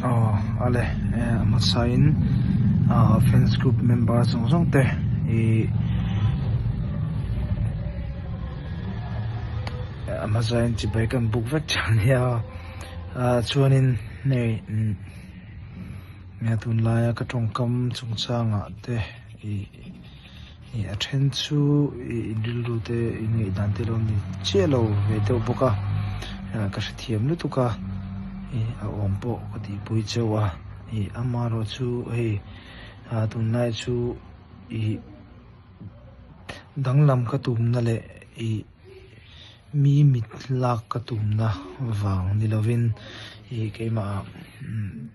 Aww a le ehh hmasain ahh fans group member zawng zawng te ihh ehh hmasain chibai kan buk vek tha nia ahh chuanin hei umm tunlai a ka tawngkam chungchangah te ihh. Ih a then chu ih in rilru te in ngaih dan te lo ni chiah lo ve deuh bawk a, ah ka hrethiam lutuk a, ih a awm pawh ka tihpui chauh a, ih amarawh chu hei ah tunlai chu ih danglam ka tumna leh ih. Mi mit lak ka tumna vang ni lovin i keimahah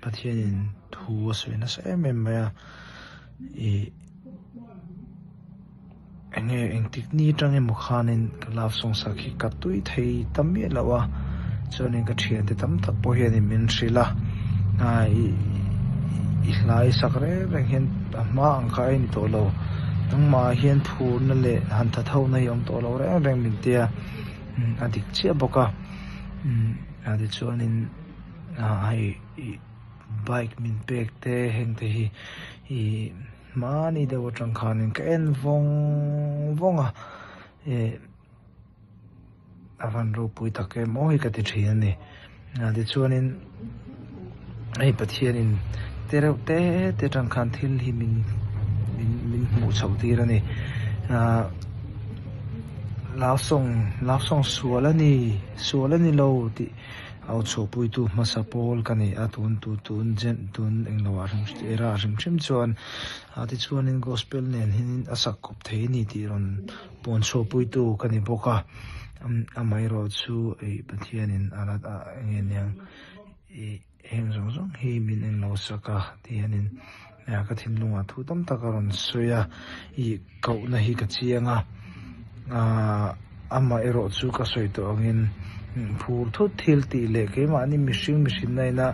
Pathianin thu a sawi nasa em em mai a. I enge engtik ni atang emaw khanin ka love song sak hi ka tui thei ta miah loh a, chuanin ka thiante tam tak pawh hian i min hrilh a. I hla i sak reng reng hian a hma ang kha a ni tawh lo. Nangmah hian thu. phurna leh han thathona hi awm tawh lo reng reng min tia a dik chiah bawk a ah tichuanin ah hei ih bike min pek te heng te hi ih mahni deuh atang khanin ka en vawng vawng a eh-- A han ropui tak em awi ka ti thin a ni. Tichuanin hei Pathianin te reuh te te atang khan thil hi min min hmuh chhoh tir a ni. Love song love song sual a ni sual a ni lo tih a aw chhuahpuitu hmasa pawl ka ni a. Tun tun tun zen tun englo a hrim hrim era a hrim hrim chuan tichuanin gospel nen hian a sak khawp thei a ni tih rawn Pawn chhuahpuitu ka ni bawk a, amaherawhchu chu eih Pathianin a rat a nge niang i heng zawng zawng hi min englo sak a tihianin ka thinlungah thu tam tak a rawn sawi a, i kohna hi ka chiang a, amaherawhchu ka sawi tawh angin phur thut thil tih leh keimahni mihring mihrinna ina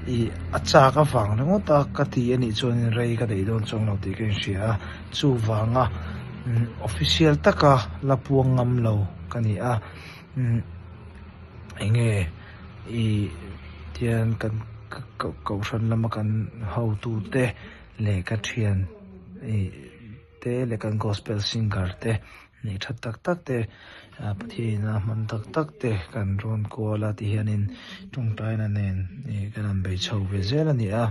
i a chak avang ringawt a ka ti anih chuan rei ka daih dawn chu anglo tih ka inhria a. Chuvanga official taka la puang ngam lo ka ni a, eng nge i tian kan Kohhran lama kan hotu te leh ka thian te leh kan gospel singer te hnih that tak tak te, Pathianin a hman tak tak te kan rawn kual a ti hianin tawngtaina nen kan rawn bei chho ve zel a ni a,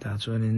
tah chuanin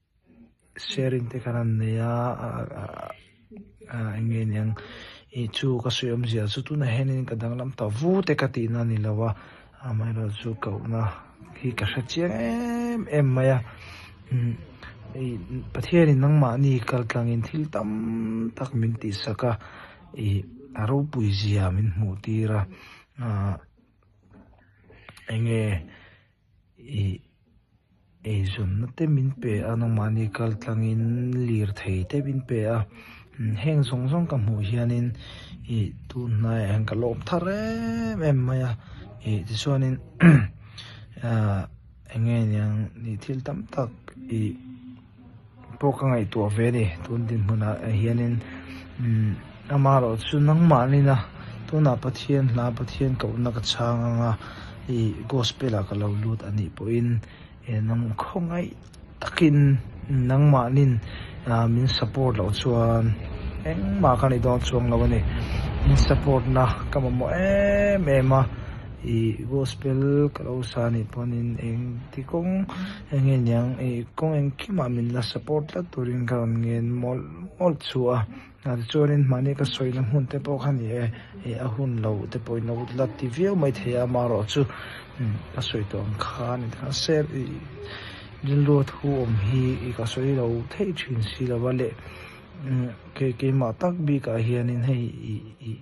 Sharing te kan han nei a, ah eng nge niang i chu ka sawi awmzia chu tunah hianin ka danglam ta vu te ka tihna a ni lo a, amaherawhchu chu kohna hi ka hre chiang em em mai a, i Pathianin nangmahni kaltlangin thil tam tak min tihsak a, i a ropui zia min hmuh tir a, ah eng nge. I eizawn nate min pe a anawmahni kaltlangin lir thei te min pe a heng zawng zawng ka hmuh hianin i tunhnaiah hian ka lawm thar em em mai a i tichuanin enge aniang thil tam tak i-- Pawh ka ngaihtuah ve ni, tun dinhmunah hianin ama erawh chu nangmah nina tunah Pathian hna, Pathian kohna ka chhang anga i Gospel-a ka lo lut a nih pawhin nang khawngaih takin nangmahnin min support loh chuan engmah ka nih dawn chuang lo a ni. Min support-na ka mamawh em em a, i Gospel ka lo sa a nih pawhin engtikawng. Eng nge niang i kawng engkimah min la sa pawr tlat turin ka rawn ngen mawlh mawlh chu a, ah tichuanin mahni ka sawina hmun te pawh kha ni e, i a hun lo te pawhin lo la ti viau mai thei a, amarawh chu ka sawi tawh ang kha a ni thei a, se i rilruat hu awm hi i ka sawi lo theih thin si lo a le kei keimah tak bikah hianin hei i i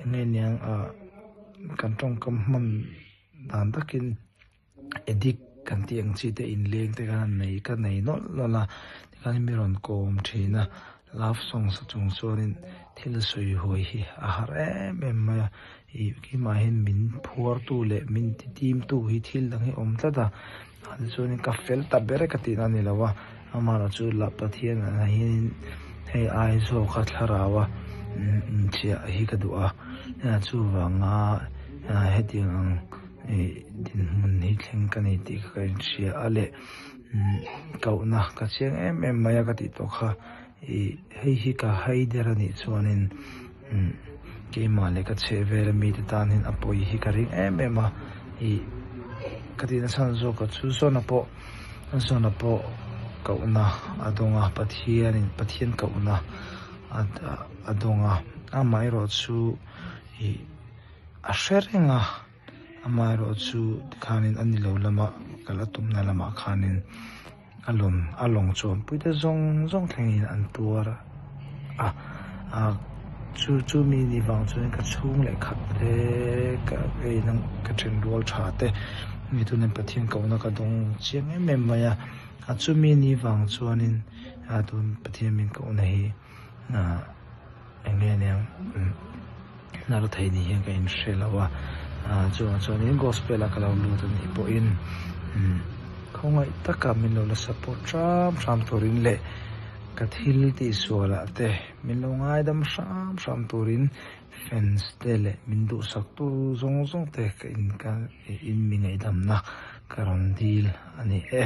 eng nge niang ah kan tawngkam hman dan takin. Edict kan tih ang chi te in leng te khan nei ka nei nawlh nawlh a tikhan in mi rawn kawm thin a love songs a chung chuan in thil sawi hawi hi a har em em mai a ih khi mah hian min phuar tu leh min ti tim tu hi thil dang hi awm tlat a ti chuan in ka fel ta ber ka tih na ni lo a amah erawh chu la pathian ah ah hian in hei aizawk a thlarau a inchhiah hi ka duh a chuvang a hetiang ang. Hei dinhmun hi thleng ka nei tih kha ka inhria a leh kauhna ka chiang em em mai a ka tih tawh kha i hei hi ka haider a nih chuanin keimah leh ka chhehvela mite tanin a pawi hi ka ring em em a i ka tih nasa zawkah chu zawna pawh zawna pawh kauhna a dawng a pathianin pathian kauhna a dawng a amaherawhchu i. A hre reng a, amaherawh chu tikhanin a nilo lama kal a tumna lamah khanin a lawm a lawngchawmpui te zawng zawng thlengin an tuar a, a chu chumi ni vang chuan ka chhung leh khat te ka eina ka then rual tha te hemi tunin Pathian kohna ka dawng chiang em em mai a, a chumi ni vang chuanin a tun Pathian min kohna hi a. Eng nge niang na la thei nih hian ka inhre lo a, chungah chuan in gospel a ka lo lut a nih pawhin khawngaih taka min lo la support hram hram turin leh ka thil tihsualah te min lo ngaidam hram hram turin fans te leh min duhsaktu zawng zawng te ka inkal in mi ngaihdamna ka rawn dil a ni e.